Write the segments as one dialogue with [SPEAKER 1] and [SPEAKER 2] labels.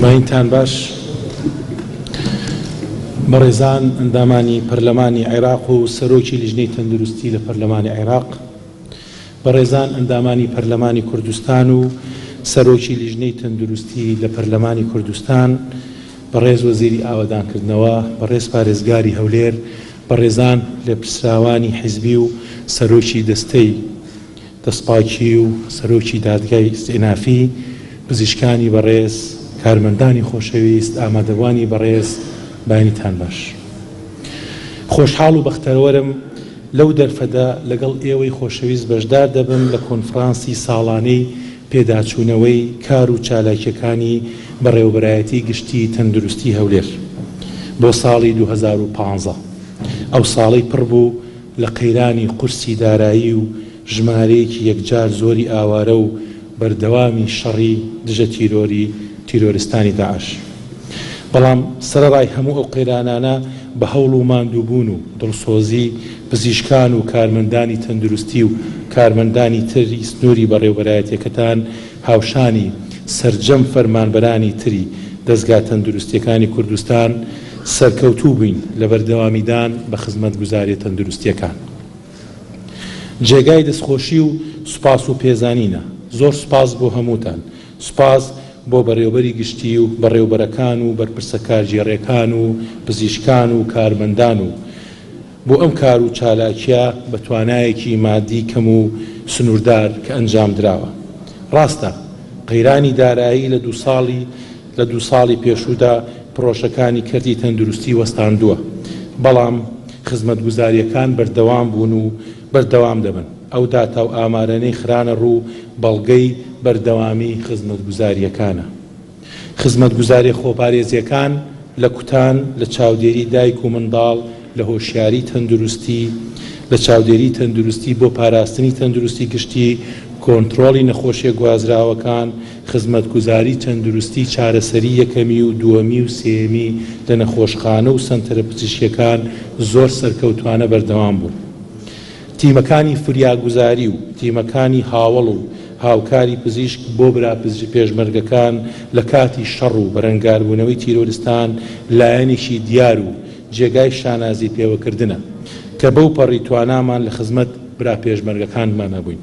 [SPEAKER 1] ماینتان باش بەڕێزان ئەندامانی پەرلەمانی عێراق و سەرۆکی لیژنەی تەندروستی لە پەرلەمانی عێراق بەڕێزان ئەندامانی پەرلەمانی کوردستان و سەرۆکی لیژنەی تەندروستی لە پەرلەمانی کوردستان بەڕێز وەزیری ئاوادانکردنەوە بەڕێز پارێزگاری هەولێر بەڕێزان لە پیسراوانی حیزبی و سەرۆکی دەستەی دەستپاکی و سەرۆکی دادگای ئیستئینافی، پزیشکانی بەڕێز، کارمەندانی خۆشەویست، ئامادەبوانی بەڕێز، بەیانیتان باش. خۆشحاڵ و بەختەوەرم لەو دەرفەتە لەگەڵ ئێوەی خۆشەویست بەشدار دەبم لە کۆنفرانسی ساڵانەی پێداچوونەوەی کار و چالاکییەکانی بەڕێوەبەرایەتی گشتی تەندروستی هەولێر بۆ ساڵی دوو هەزار و پازدە، ئەو ساڵەی پڕ بوو لە قەیرانی قورسی دارایی و ژمارەیەکی یەکجار زۆری ئاوارە و بەردەوامی شەڕی دژە تیرۆری تیرۆرستانی داعش. بەڵام سەرەڕای هەموو ئەو قەیرانانە بە هەوڵ و ماندووبوون و دڵسۆزی پزیشکان و کارمەندانی تەندروستی و کارمەندانی تری سنووری بەڕێوبەرایەتیەکەتان هاوشانی سەرجەم فەرمانبەرانی تری دەزگا تەندروستیەکانی کوردستان سەرکەوتوو بین لە بەردەوامیدان بە خزمەتگوزاریە تەندروستیەکان جێگای دەستخۆشی و سوپاس و پێزانینە زۆر سوپاس بۆ هەمووتان سوپاس بۆ بەڕێوبەری گشتی و بەڕێوبەرەکان و بەرپرسە کارگێڕێکان و پزیشکان و کارمەندان و بۆ ئەم کار و چالاکیە بە توانایەکی مادی کەم و سنوردار کە ئەنجامدراوە. ڕاستە قەیرانی دارایی لە دوو ساڵی لە دوو ساڵی پێشوودا پڕۆژەکانی کەرتی تەندروستی وەستاندووە، بەڵام خزمەتگوزاریەکان بەردەوام بوون و بەردەوام دەبن. ئەو داتا و ئامارەنەی خرانە ڕوو بەڵگەی بەردەوامی خزمەتگوزاریەکانە. خزمەتگوزارییە خۆپارێزییەکان لە کوتان، لە چاودێری دایک و منداڵ، لە هۆشیاری تەندروستی، لە چاودێری تەندروستی بۆ پاراستنی تەندروستی گشتی، کۆنترۆڵی نەخۆشییە گوازراوەکان، خزمەتگوزاری تەندروستی چارەسەری یەکەمی و دووەمی و سێیەمی لە نەخۆشخانە و سەنتەرە پزیشکییەکان زۆر سەرکەوتوانە بەردەوام بوون. تیمەکانی فریاگوزاری و تیمەکانی هاوەڵ و هاوکاری پزیشک بۆ برا پێشمەرگەکان لە کاتی شەڕ و بەرەنگاربوونەوەی تیرۆرستان لایەنێکی دیار و جێگای شانازی پێوەکردنە کە بەوپەڕی توانامان لە خزمەت برا پێشمەرگەکانمانە بووین.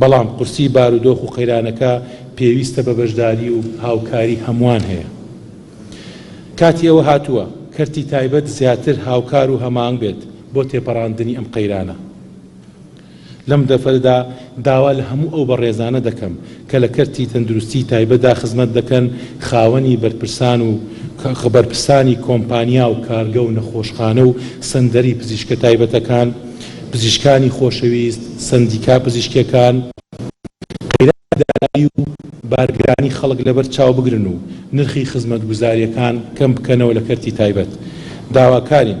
[SPEAKER 1] بەڵام قورسی بارودۆخ و قەیرانەکە پێویستە بە بەشداری و هاوکاری هەمووان هەیە. کاتی ئەوە هاتووە کەرتی تایبەت زیاتر هاوکار و هەماهەنگ بێت بۆ تێپەڕاندنی ئەم قەیرانە. لەم دەڤەرەدا داوا لە هەموو ئەو بەڕێزانە دەکەم، کە لە کەرتی تەندروستیی تایبەتدا خزمەت دەکەن، خاوەنی بەرپرسان و بەرپرسانی کۆمپانیا و کارگە و نەخۆشخانە و سەنتەری پزیشکە تایبەتەکان، پزیشکانی خۆشەویست، سەندیکا پزیشکییەکان، قەیرانی دارایی و بارگرانی خەڵک لەبەر چاو بگرن و نرخی خزمەتگوزارییەکان کەم بکەنەوە لە کەرتی تایبەت، داواکارین.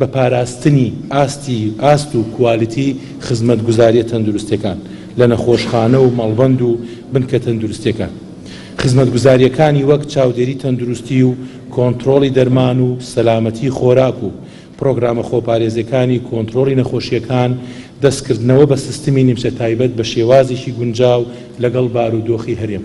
[SPEAKER 1] بە پاراستنی ئاستی ئاست و کوالیتی خزمەتگوزاریە تەندروستیەکان لە نەخۆشخانە و مەڵبەند و بنکە تەندروستیەکان. خزمەتگوزاریەکانی وەک چاودێری تەندروستی و کۆنترۆڵی دەرمان و سەلامەتی خۆراک و پرۆگرامە خۆپارێزەکانی کۆنترۆڵی نەخۆشیەکان دەستکردنەوە بە سستمی نیمچە تایبەت بە شێوازێکی گونجاو لەگەڵ بارودۆخی هەرێم.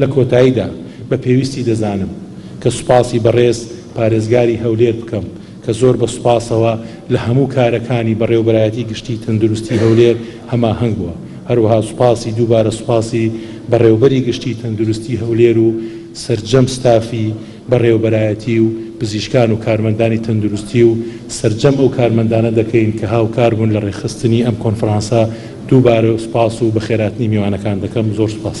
[SPEAKER 1] لە کۆتاییدا بە پێویستی دەزانم کە سوپاسی بەڕێز پارێزگاری هەولێر بکەم کە زۆر بە سوپاسەوە لە هەموو کارەکانی بەڕێوبەرایەتی گشتی تەندروستی هەولێر هەماهەنگ بووە هەروەها سوپاسی دووبارە سوپاسی بەڕێوبەری گشتی تەندروستی هەولێر و سەرجەم ستافی بەڕێوەبەرایەتی و پزیشکان و کارمەندانی تەندروستی و سەرجەم ئەو کارمەندانە دەکەین کە هاوکار بوون لە ڕێکخستنی ئەم کۆنفرانسە، دووبارە سوپاس و بەخێرهاتنی میوانەکان دەکەم، زۆر سوپاس.